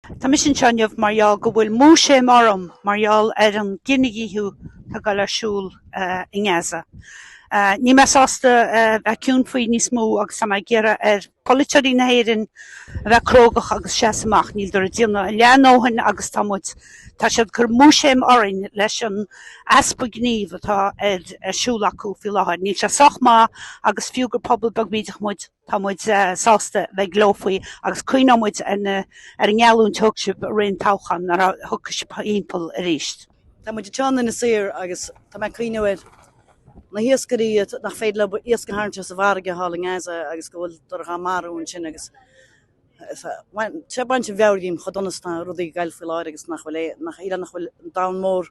Tá mise anseo inniu mar gheall go bhfuil múisiam orm mar gheall ar an gcinedhíothú atá goil ar siúl i nGaza. Níl mé sásta a bheith ciúin faoi níos mó agus tá mé ag iarraidh ar pholaiteoirí na hÉireann a bheith crógach agus seasamh amach. Níltear ag déanamh leath a ndóthain agus tá muid, tá siad ag cur múisiam orainn leis an easpa gnímh atá ar siúl acu faoi láthair. Níl sé sách maith agus fiú gur pobal beag bídeach muid, Tá muid sásta bheith glórach agus cuimhneoidh muid ar an ngeallúint a thug sibh i rith an toghcháin nuair a thiocfas sibh thimpeall arís. Tá muid ag ceann Inis Oírr agus tá mé ag cuimhneamh ar na hiascairí nach féidir leo iasc a tharraingt as an bhfarraige thall i nGaza agus go bhfuiltear dhá marú ansin agus tá sé ag baint an mheabhair dhíom chomh dona is atá rudaí ag goil faoi láthair agus nach bhfuil aon, nach bhfuil an domhan mór.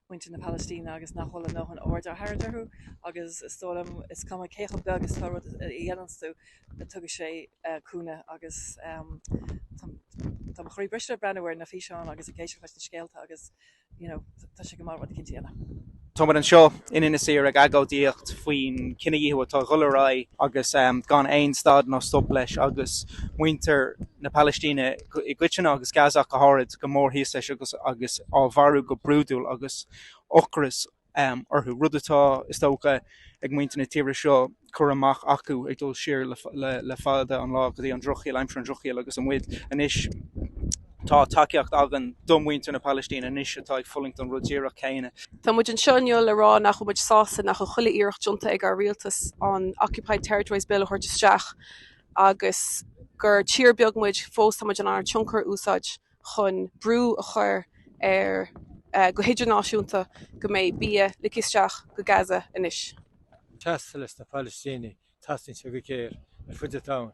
muintir na Palaistíne agus nach bhfuil a ndóthain aird á tharraingt orthu agus is dóigh liom is cuma cé chomh beag agus atá rud a dhéananns tú ná tugann sé cúnamh agus tá tá mo chroí briste ag breathnú ar na físeáin agus ag éisteacht leis na scéalta agus you know tá sé go maith rud eicínt a dhéanamh. Tá muid anseo in Inis Oírr ag agóidíocht faoin chinedhíothú atá ag dhul ar aghaidh agus gan aon stad ná stop leis agus muintir na Palaistíne i gcoitinne agus Gaza ach go háirid go mór thíos leis agus agus á mharú go brúidiúil agus ocras orthu, rud atá, is dócha, ag muintir na tíre seo cur amach acu ag dul siar le fada an lá go dtí an drochshaol, aimsir an drochshaoil agus muid anois tá tacaíocht againn do mhuintir na Palaistíne anois atá ag fulaingt an rud díreach céanna. Tá muid anseo inniu le rá nach bhfuil muid sásta nach bhfuil chuile iarracht déanta ag ár rialtas an Occupied Territories Bill a thabhairt isteach, agus gur tír beag muid fós tá muid in ann tionchar a úsáid chun brú a chur ar go hidirnáisiúnta go mbeidh bia ligthe isteach go Gaza anois. Ceartas leis na Palaistínigh, Teastaíonn sé go géar ar fuid an domhain.